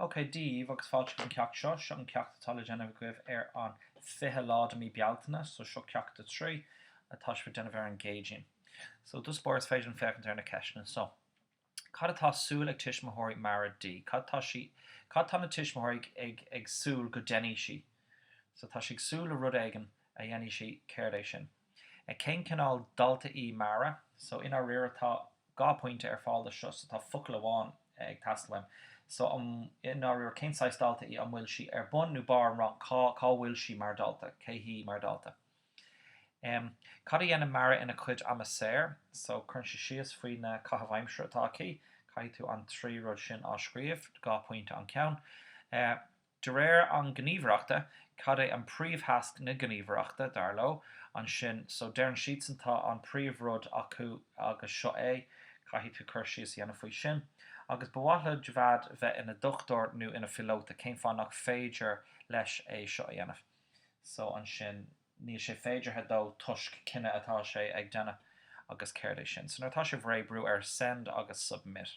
OK, Dia daoibh agus fáilte chuig an ceacht seo. Seo an ceacht atá le déanamh agaibh ar an 20 lá de mí Bealtaine, so seo ceacht a trí atá sibh ag déanamh ar an gCéadaoin. So ar dtús báire is féidir linn féachaint ar na ceisteanna. So, cad atá súil ag tuismitheoirí Marie di? Cad tá sí, cad tá na tuismitheoirí ag, ag, ag súil go déanfaidh sí? So tá sí ag súil le rud éigin a dhéanfaidh sí, céard é sin? Cén cineál dalta í Marie? So, i ndáiríre, tá dhá phointe ar fáil do seo, so tá focal amháin ag teastáil uaim. So, an, i ndáiríre, cén saghas dalta í? An bhfuil sí ar bun nó barr an rang? Cá, cá bhfuil sí mar dalta? Cé hí mar dalta? Em. Cad a dhéanann Marie ina cuid ama saor? So, cuireann sí síos faoi na caithimh aimsire atá aici. Caithfidh tú an trí rud sin á scríobh, dhá phointe an ceann. Eh. De réir an Ghníomhaireachta, cad é an príomhthasc na Gníomhaireachta, dar leo, ansin? So, deireann siadsan, tá an príomhrud acu agus seo é, caithfidh tú cur síos a dhéanamh faoi sin. Agus ba mhaith le Javaid bheith ina dhochtúir nó ina phiolóta, cén fáth nach féidir leis é seo a dhéanamh? So ansin, níl sé féideartha dó toisc cinneadh atá sé ag déanamh. Agus céard é sin? So nuair atá sibh réidh, brú ar Send agus Submit.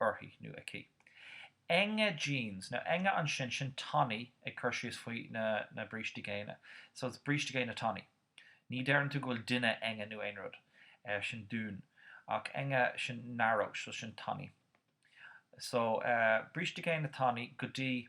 uirthi nó aici. Enge jeans, nó enge ansin, sin tanaí ag cur síos faoi na brístí géine. So is bríste géine tanaí. Ní deireann tú go bhfuil duine enge nó aon rud. Sin dünn. Ach enge, sin narrow, so sin tanaí. So, bríste géine tanaí go dtí.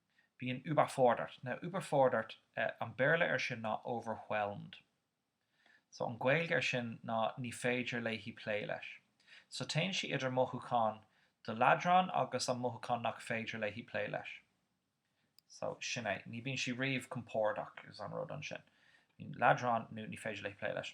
bíonn überfordert nó überfordert an Béarla air sin ná overwhelmed so an Ghaeilge air sin ná ní féidir léi plé leis so téann sí idir mothúchán do leadrán agus an mothúchán nach féidir léi plé leis so sin é ní bíonn sí riamh compordach is an rud ansin bíonn leadrán nó ní féidir léi plé leis.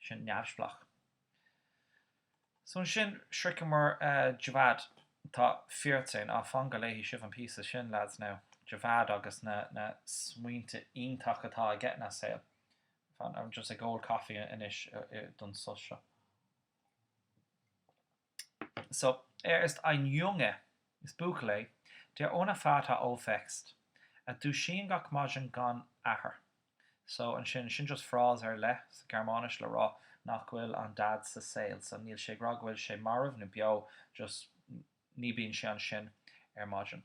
sin neamhspleách. So ansin, shroicheamar Javaid. Tá vierzehn, á, fan go léifidh sibh an píosa sin, leaids, now. Javaid agus na smaointe iontacha atá aige ina saol. Fan, I'm just ag ól coffee anois don sos seo. So, er ist ein Junge, is buachaill é, der ohne Vater aufwächst, a dúisíonn gach maidin gan athair. So, ansin, sin just phrase ar leith sa Ghearmáinis le rá nach bhfuil an Daid sa saol. So, níl sé ag rá go bhfuil sé marbh nó beo, just ní bíonn sé ansin ar maidin.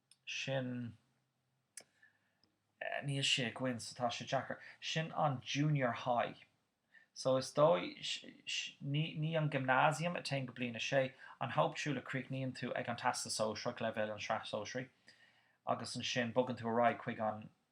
sin, níl sé againn so tá sé deacair, sin an junior high so is dóigh, ní, ní an gymnasium a théann go bliain a sé, an Hauptschule a chríochnaíonn tú ag an Teastas Sóisearach, leibhéal an Sraith Shóisearaí agus ansin bogann tú ar aghaidh chuig an,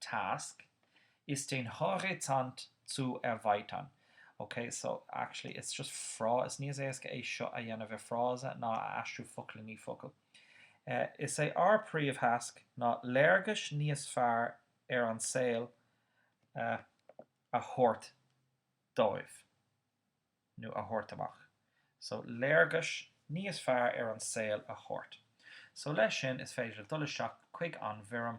task, ist den Horizont zu erweitern. Ok, so actually it's just frá, is níos éasca é seo a dhéanamh i frása ná a aistriú focal i ndiaidh focail. Is é ár príomhthasc ná léargas níos fearr ar an saol a thabhairt dóibh, nó a thabhairt amach. So léargas níos fearr ar an saol a thabhairt. So leis sin, is féidir dul isteach chuig an bhfoirm